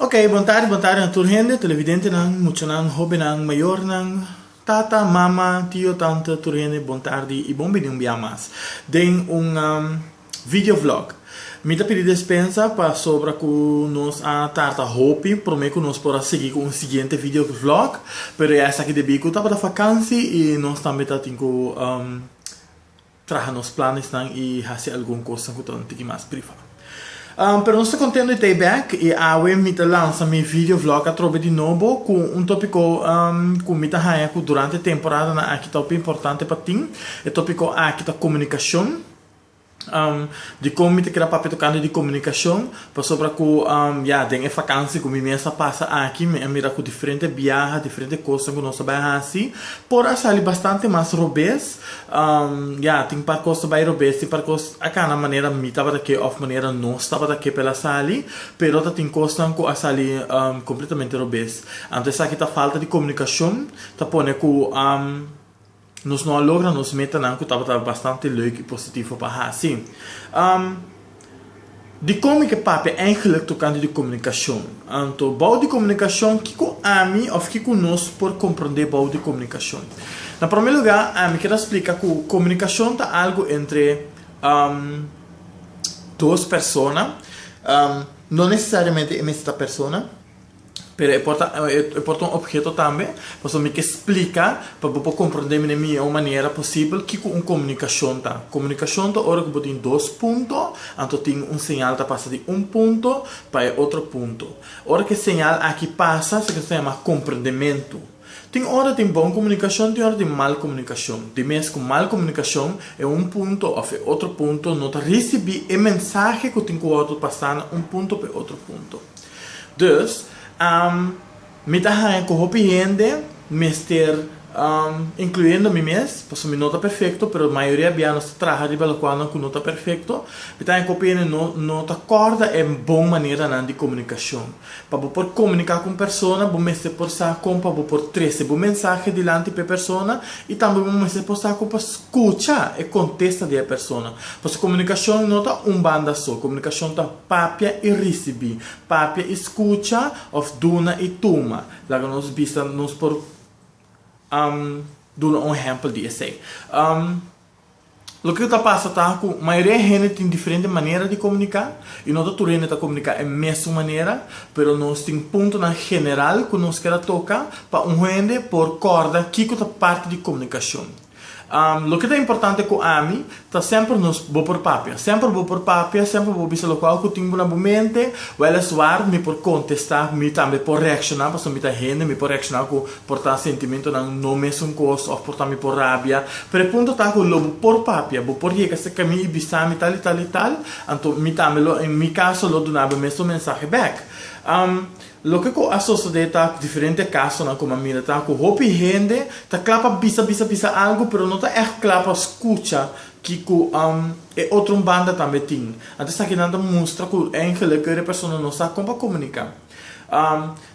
Ok, bon tarde, bon tarde na tur hende, televidentenan, muchanan, hobennan, mayornan, tata, mama, tio, tante, tur hende bon tarde i bon bini un bia mas den un video vlog. Mi ta pidi despensa pasobra ku nos a tarda hopi, promé ku nos por a sigui ku un siguiente video vlog, pero ya esaki debí ku tabata vakansi i nos tambe ta tin ku. Traha nos planesnan i hasi algun kosnan ku ta un tiki mas priva. Pero nos ta kontento di ta ei bèk i awe mi ta lansa mi video vlog atrobe di nobo ku un topiko ku mi ta haña ku durante e temporadana aki ta hopi importante pa tin. E topiko aki ta komunikashon, dikon mi ta keda papia tokante di komunikashon. Pasobra ku, ya, den e fakansi ku mi mes a pasa aki, mi a mira ku diferente biaha, diferente kosnan ku nos a bai hasi, por a sali bastante mas robes. Ya, tin par kos ta bai robes, tin par kos a kana manera mi tabata ke òf manera nos tabata ke pa el a sali, pero ta tin kosnan ku a sali kompletamente robes. Anto esaki ta falta di komunikashon, ta pone ku. Nos no a logra nos metanan cu tabata bastante leuk y positivo pa haci. Di como ke papia eigenlijk tocante di comunicacion? Anto, bou di comunicacion, kico ami of kico nos por comprende bou di comunicacion? Na prome lugar, ami kier a splica cu comunicacion ta algo entre dos persona, no necesariamente e mester ta persona, Pero e por ta e por ta un obheto tambe, pasobra mi ke splika pa bo por komprondé mi den mihó manera posibel kiko un komunikashon ta. Komunikashon ta ora ku bo tin dos punto, anto tin un señal ta pasa di un punto pa e otro punto. Ora ku e señal aki pasa, se ke nos ta yama komprendementu. Tin ora tin bon komunikashon, tin ora tin mal komunikashon. Di mes ku mal komunikashon e un punto òf e otro punto no ta risibí e mensahe ku tin ku wòrdu pasá na un punto òf e otro punto. Dus, mi ta haña ku hopi hende mester, inkluyendo mi mes, pasobra mi no ta perfekto, pero mayoria bia nos ta traha riba lokualnan ku no ta perfekto, mi ta haña ku hopi hende no ta kòrda e bon maneranan di komunikashon. Pa bo por komuniká ku un persona, bo mester por sa kon pa bo por trese bo mensahe dilanti pa e persona i tambe bo mester por sa kon pa skucha e kontesta di e persona. Pasobra komunikashon no ta un banda so, komunikashon ta papia i risibí, papia i skucha òf duna i tuma. Laga nos bisa nos por duna un ehèmpel di esei. Loke ta pasa ta ku mayoria di hende tin diferente manera di komuniká i no ta tur hende ta komuniká e mesun manera, pero nos tin puntonan general ku nos ker a toka pa un hende por kòrda kiko ta parti di komunikashon. Loke ta importante ku ami ta semper nos bo por papia, semper bo por papia, semper bo por bisa lokual ku tin bo na bo mente, wèleswar mi por kontestá, mi tambe por reakshoná pasobra mi ta hende, mi por reakshoná ku. Por ta sentimentonan no mesun kos òf por ta mi por rabia. Pero e punto ta ku lo bo por papia. Bo por yega serka mi i bisami tal i tal i tal. Anto mi tambe lo, en mi kaso, lo duna bo e mesun mensahe bèk. Loke ku a sosodé ta diferente kasonan ku mi a mira ta ku hopi hende ta kla pa bisa bisa bisa algu pero no ta ègt kla pa skucha ke ku e otro banda tambe tin. Anto esaki nan ta mustra ku eigelik e persona no sa kon pa komuniká.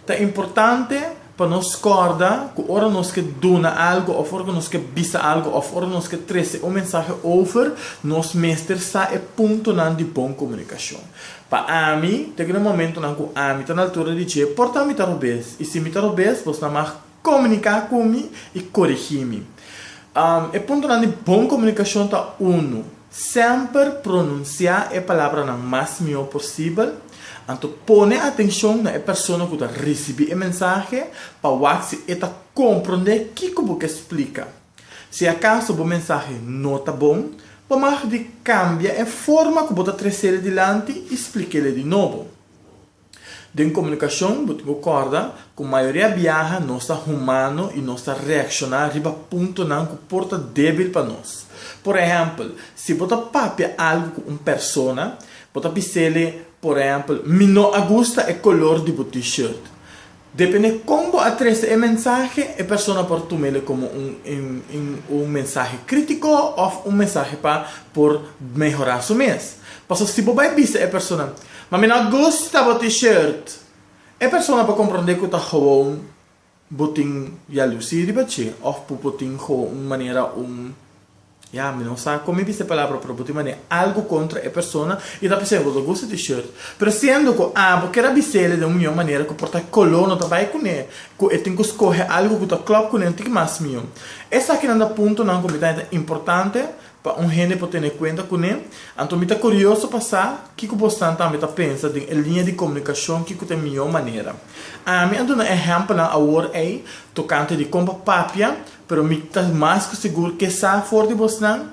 Ta importante pa nos kòrda ku ora nos ke duna algu òf ora ku nos ke bisa algu òf ora nos ke trese un mensahe over, nos mester sa e puntonan di bon komunikashon. Pa ami, te kende momentunan ku ami ta na altura di dje, por ta mi ta robes, i si mi ta robes, bos ta mag Komuniká ku mi i korigí mi. E puntonan di bon komunikashon ta, Unu, semper pronunsiá e palabranan mas mihó posibel. Anto pone atenshon na e persona ku ta risibí e mensahe pa wak si e ta komprondé kiko bo ke splika. Si akaso bo mensahe no ta bon, bo mag di kambia e forma ku bo ta treséle dilanti i splikele di nobo. Den komunikashon bo tin ku kòrda ku mayoria biaha nos ta humano i nos ta reakshoná riba puntonan ku por ta débil pa nos. Por ehèmpel, si bo ta papia algu ku un persona, bo ta bis'el e, por ehèmpel, mi no a gusta e kolor di bo T-shirt. Depende kon bo a trese e mensahe, e persona por tuma el komo un mensahe krítiko òf un mensahe pa por mehorá su mes. Pasobra si bo bai bisa e persona, Ma mi no a gusta bo T-shirt, e persona por komprondé ku ta gewoon bo tin yalusí riba dje òf ku bo tin gewoon un manera un Ya, mi no sa kon mi bisa e palabra pero bo tin mane algu kontra e persona i ta p'esei bo ta gusta di e short. Pero siendo ku abo kier a bis'el den un mion manera ku por ta e koló no ta bai kuné, ku e tin ku skohe algu ku ta klòp kuné no tin ki mas mion. Esakinan ta puntonan ku mi ta haña ta importante pa un hende por tene kuenta kuné. Anto mi ta kurioso pa sa kiko bosnan tambe ta pensa den e liña di komunikashon kiko ta e mion manera. Ami a duna ehèmpelnan awor ei tokante di kon pa papia Pero mi ta mas ku sigur ke sa for di bosnan,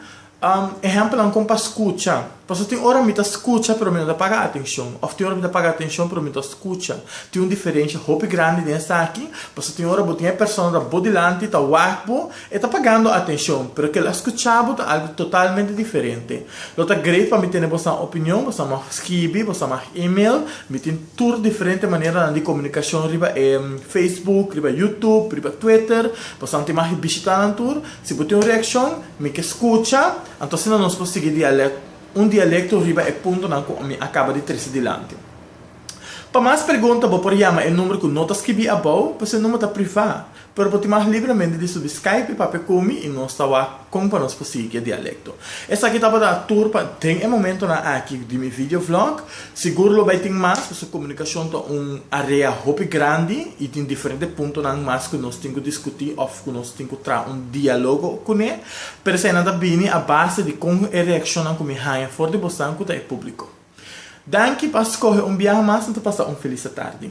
ehèmpelnan kon pa skucha. Pasobra tin ora mi ta skucha pero mi no ta paga atenshon, òf tin ora mi ta paga atenshon pero mi ta skucha. Tin un diferensha hopi grandi den esaki, pasobra tin ora bo tin e persona ta bo dilanti, ta wak bo, e ta pagando atenshon, pero kel a skucha bo ta algu totalmente diferente. Lo ta great pa mi tene bosnan opinion, bosnan mag skibi, bosnan mag email, mi tin. tur diferente maneranan di komunikashon riba e Facebook, riba Youtube, riba Twitter, bastante mas e bishita nan tur. Si bo tin un reakshon, mi ke skucha, anto asina nos por sigui dialèkt, un dialekto riba e puntonan ku mi a kaba di trese dilanti. Pa mas pregunta bo por yama e number ku no ta skibí abou, pues e number ta privá. Pero bo tin mas libremente di subi Skype i papia ku mi i nos ta wak kon pa nos por sigui ku e dialekto. Esaki tabata a tur pa den e momentonan aki di mi video vlog. Sigur lo bai tin mas pasobra komunikashon ta un area hopi grandi i tin diferente puntonan mas ku nos tin ku diskutí òf ku nos tin ku traha un dialogo kuné. Pero eseinan ta bini a base di kon e reakshonnan ku mi haña for di bosnan ku ta e públiko. Danki pa skohe un biaha mas, nan ta pasa un felis atardi.